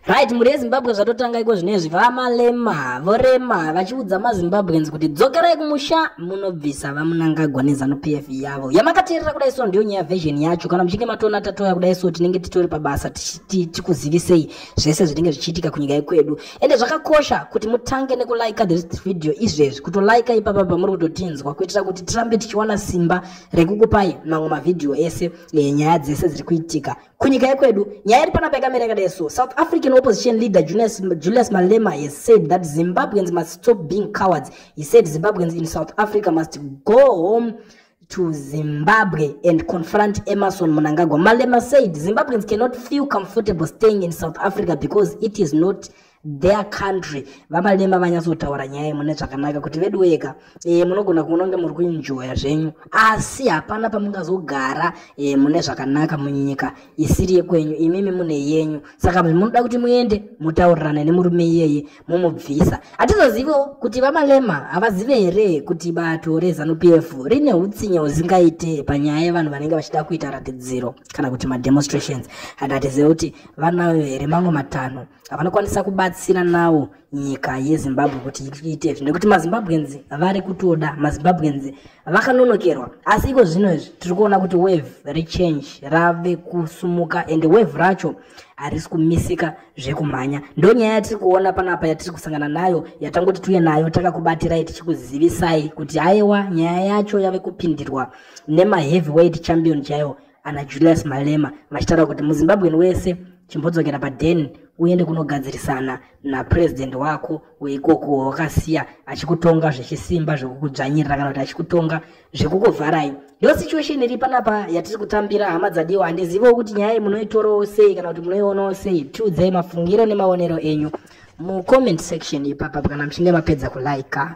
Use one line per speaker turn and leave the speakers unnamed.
right mhuri yezimbabwe zvatotanga iko zvinezvi vamalema vorema vachiudza mazimbabweans kuti dzokerai kumusha munobvisa vamunangagwa nezanu p f yavo yamakateerera kudai so ndiyo nyaya version yacho kana muchinge matoona tatoya kudai so tinenge titori pabasa tikuzivisei zvese zvinenge zvichiitika kunyika yekwedu ende zvakakosha kuti mutange nekulaika this video izvezvi kutolaika ipapa pamuri kutotinzwa kuitira kuti tirambe tichiwana simba rekukupai mamwe mavhidhiyo ese enyaya eh, dzese dziri kuitika kunyika yekwedu nyaya iri panapa yakamira yakadai so south african opposition leader julius, julius malema has said that zimbabweans must stop being cowards he said zimbabweans in south africa must go home to zimbabwe and confront emerson munangagwa malema said zimbabweans cannot feel comfortable staying in south africa because it is not their country vamalema vanyatsotaura nyaya mune zvakanaka kuti vedu weka e, eh, munogona kunonge muri kuinjoya zvenyu asi hapana pamungazogara e, mune zvakanaka munyika isiri yekwenyu imimi mune yenyu saka munoda kuti muende mutaurirane nemurume iyeye mumubvisa hatizoziviwo kuti vamalema havazive here kuti bato rezanup f rine utsinye huzingaite panyaya yevanhu vanenge vachida kuita ratidziro kana kuti mademonstrations and hatizive kuti vanayo here mamwe matanho avanokwanisa kubatsira nawo nyika yezimbabwe kuti iite izvi nekuti mazimbabwenzi vari kutoda mazimbabwenzi vakanonokerwa asi iko zvino izvi tiri kuona kuti wave rechange rave kusumuka and wave racho harisi kumisika zvekumhanya ndo nyaya yatiri kuona panapa yatiri kusangana nayo yatangoti tiuye nayo takakubatirai tichikuzivisai kuti haiwa nyaya yacho yave kupindirwa nemaheavyweight champion chaiwo ana julius malema vachitaura kuti muzimbabwen wese chimbodzokera paden uende kunogadzirisana napurezidendi wako weikoko wawakasiya achikutonga zvechisimba zvekukudzvanyirira kana kuti achikutonga zvekukuvharai ndo situation iri panapa yatiri kutambira hama dzadiwa handizivewo kuti nyaya iyi munoitorawo sei kana kuti munoionawo sei tiudzai mafungiro nemaonero enyu mucomment section ipapa kana muchinge mapedza kulaika